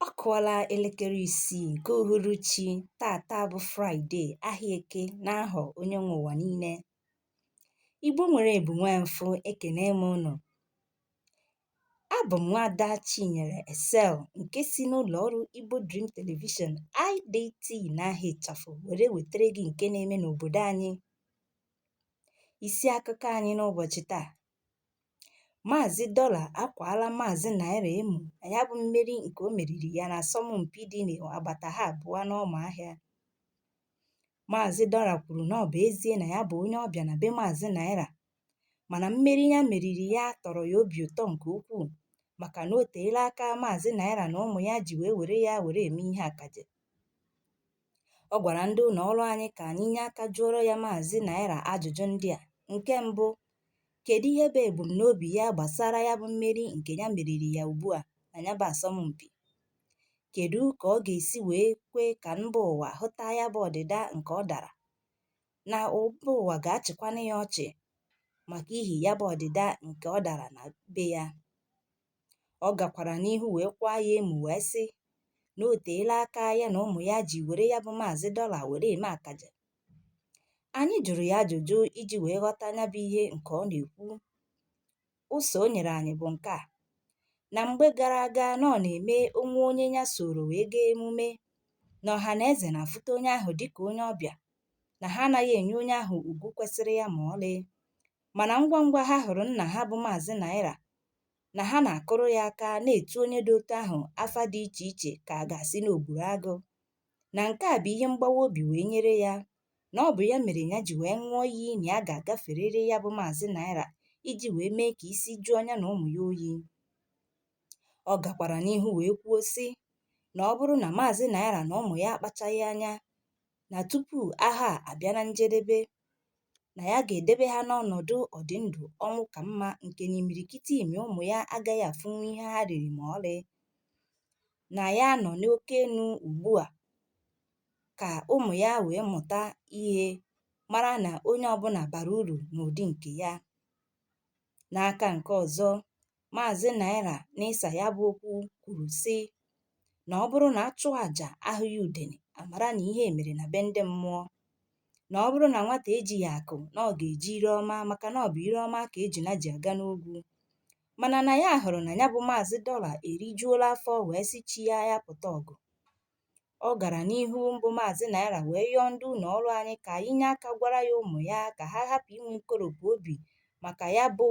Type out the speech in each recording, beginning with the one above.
Ọ kụọla elekere isii nke uhuruchi tata bụ Fraịde ahịa eke n'ahọ onye nwe ụwa niile. Igbo nwere ebu nwee mfụ ekene m ụnụ. Abụ m nwaada Chinyere Excel nke si n'ụlọ ọrụ Igbo Dream Television IDT n'aha ịchafụ were wetere gị nke na-eme n'obodo anyị. Isi akụkọ anyị n'ụbọchị taa Maazị Dọla akwaala Maazị Naira emu na ya bụ mmeri nke o meriri ya n'asọmpi dị n'agbata ha abụọ n'Ụmụahịa. Maazị Dọla kwuru na ọ bụ ezie na ya bụ onye ọbịa na be Maazị Naira mana mmeri ya meriri ya tọrọ ya obi ụtọ nke ukwuu maka na o teela aka Maazị Naira na ụmụ ya ji wee were ya were eme ihe akaje. Ọ gwara ndị ụlọ ọrụ anyị ka anyị nye aka jụọrọ ya Maazị Naira ajụjụ ndị a. Nke mbụ, kedu ihe bụ ebumnobi ya gbasara ya bụ mmeri nke ya meriri ya ugbu a na ya bụ asọmpi? Kedu ka ọ ga-esi wee kwe ka mba ụwa hụta ya bụ ọdịda nke ọ dara? Na mba ụwa ga-achịkwanụ ya ọchị maka ihi ya bụ ọdịda nke ọ dara na be ya? Ọ gakwara n'ihu wee kwaa ya emu wee sị na o teela aka ya na ụmụ ya ji were ya bụ Maazị Dọla were eme akaje. Anyị jụrụ ya ajụjụ iji wee ghọta ya bụ ihe nke ọ na-ekwu. Ụsa o nyere anyị bụ nke a na mgbe gara aga na ọ na-eme o nwee onye ya soro wee gaa emume na ọha na eze na-afụta onye ahụ dịka onye ọbịa na ha anaghị enye onye ahụ ugwu kwesịrị ya ma ọlị Mana ngwa ngwa ha hụrụ nna ha bụ Maazị Naira na ha na-akụrụ ya aka na-etu onye dị otu ahụ afa dị iche iche ka a ga-asị na o gburu agụ. Na nke a bụ ihe mgbawa obi wee nyere ya na ọ bụ ya mere ya ji wee ṅụọ iyi na ya ga-agaferịrị ya bụ Maazị Naira iji wee mee ka isi jụọ ya na ụmụ ya oyi. Ọ gakwara n'ihu wee kwuo sị na ọ bụrụ na Maazị Naira na ụmụ ya akpachaghị anya na tupu ahọ a abịa na njedebe, na ya ga-edebe ha n'ọnọdụ ọdị ndụ ọnwụ ka mma nke na imirikiti ime ụmụ ya agaghị afụnwu ihe ha riri ma ọlị na ya nọ n'oke enu ugbu a ka ụmụ ya wee mụta ihe mara na onye ọbụla bara uru n'ụdị nke ya n'aka nke ọzọ Maazị Naira n'ịsa ya bụ okwu kwuru sị na ọ bụrụ na a chụọ aja ahụghị udene a mara na ihe mere na be ndị mmụọ na ọ bụrụ na nwata ejighị akụ na ọ ga-eji ire ọma maka na ọ bụ ire ọma ka ejuna ji aga n'ogwu mana na ya hụrụ na ya bụ Maazị Dọla erijuola afọ wee sị chi ya ya pụta ọgụ Ọ gara n'ihu mbụ Maazị Naira wee yọọ ndị ụlọ ọrụ anyị ka anyị nye aka gwara ya ụmụ ya ka ha hapụ inwe nkoropụ obi maka ya bụ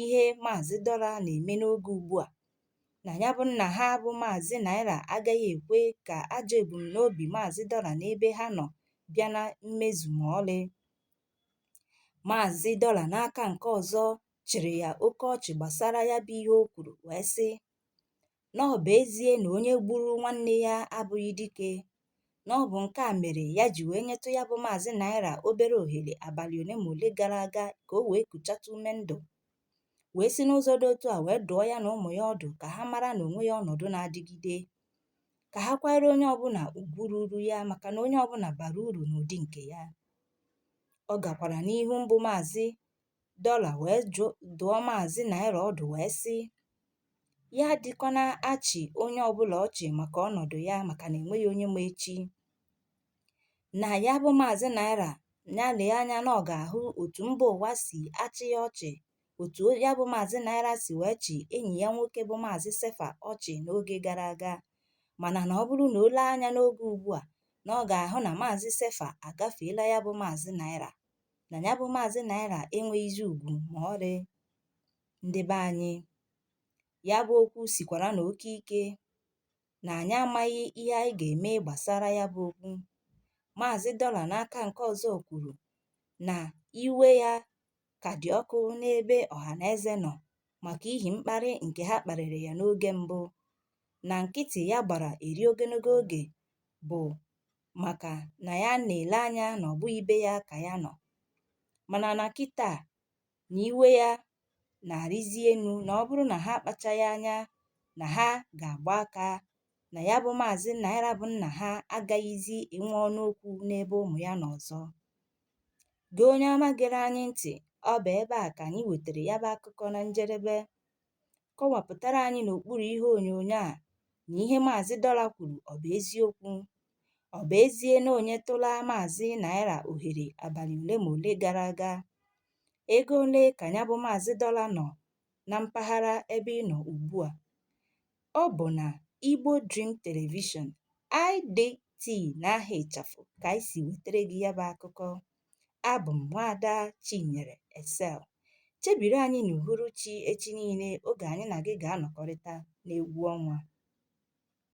ihe Maazị Dọla na-eme n'oge ugbu a na ya bụ nna ha bụ Maazị Naira agaghị ekwe ka ajọ ebumnobi Maazị Dọla n'ebe ha nọ bịa na mmezu ma ọlị Maazị Dọla n'aka nke ọzọ chịrị ya oke ọchị gbasara ya bụ ihe o kwuru wee sị na ọ bụ ezie na onye gburu nwanne ya abụghị dike na ọ bụ nke a mere ya ji wee nyetụ ya bụ maazị naira obere ohere abalị ole ma ole gara aga ka o wee kuchatụ ume ndụ wee si n'ụzọ dị otu a wee dụọ ya na ụmụ ya ọdụ ka ha mara na o nweghị ọnọdụ na-adịgide ka ha kwanyere onye ọbụla ugwu ruru ya maka na onye ọbụla bara uru n'ụdị nke ya ọ gakwara n'ihu mbụ maazị dọla wee dụọ maazị naira ọdụ wee sị ya adịkwana achị onye ọbụla ọchị maka ọnọdụ ya maka na enweghị onye ma echi na ya bụ maazị naira ya lee anya na ọ ga-ahụ otu mba ụwa si achị ya ọchị otu ya bụ maazị naira si wee chị enyi ya nwoke bụ maazị sefa ọchị n'oge gara aga mana na ọ bụrụ na o lee anya n'oge ugbu a na ọ ga-ahụ na maazị sefa agafeela ya bụ maazị naira na ya bụ maazị naira enweghịzi ugwu ma ọlị ndị be anyị ya bụ okwu sikwaranụ oke ike na anyị amaghị ihe anyị ga-eme gbasara ya bụ okwu maazị dọla n'aka nke ọzọ kwuru na iwe ya ka dị ọkụ n'ebe ọhaneze nọ maka ihi mkparị nke ha kparịrị ya n'oge mbụ na nkịtị ya gbara eri ogologo oge bụ maka na ya na-ele anya na ọ bụghị be ya ka ya nọ mana na kịta na iwe ya na-arịzi enu na ọ bụrụ na ha akpachaghị anya na ha ga-agba aka na ya bụ maazị naira bụ nna ha agaghịzi enwe ọnụ okwu n'ebe ụmụ ya nọ ọzọ gị onye ọma gere anyị ntị ọ bụ ebe a ka anyị wetara ya bụ akụkọ na njedebe kọwapụtara anyị n'okpuru ihe onyonyo a na ihe Maazị Dọla kwuru ọ bụ eziokwu. Ọ bụ ezie na o nyetụla Maazị Naira ohere abalị ole ma ole gara aga, ego ole ka ya bụ Maazị Dọla nọ na mpaghara ebe ị nọ ugbu a? Ọ bụ na Igbo Dream Television, IDT n'aha ịchafụ ka anyị si wetara gị ya bụ akụkọ. Abụ m nwaada Chinyere Excel. Chebiri anyị n'uhuruchi echi niile oge anyị na gị ga-anọkọrịta n'egwu ọnwa.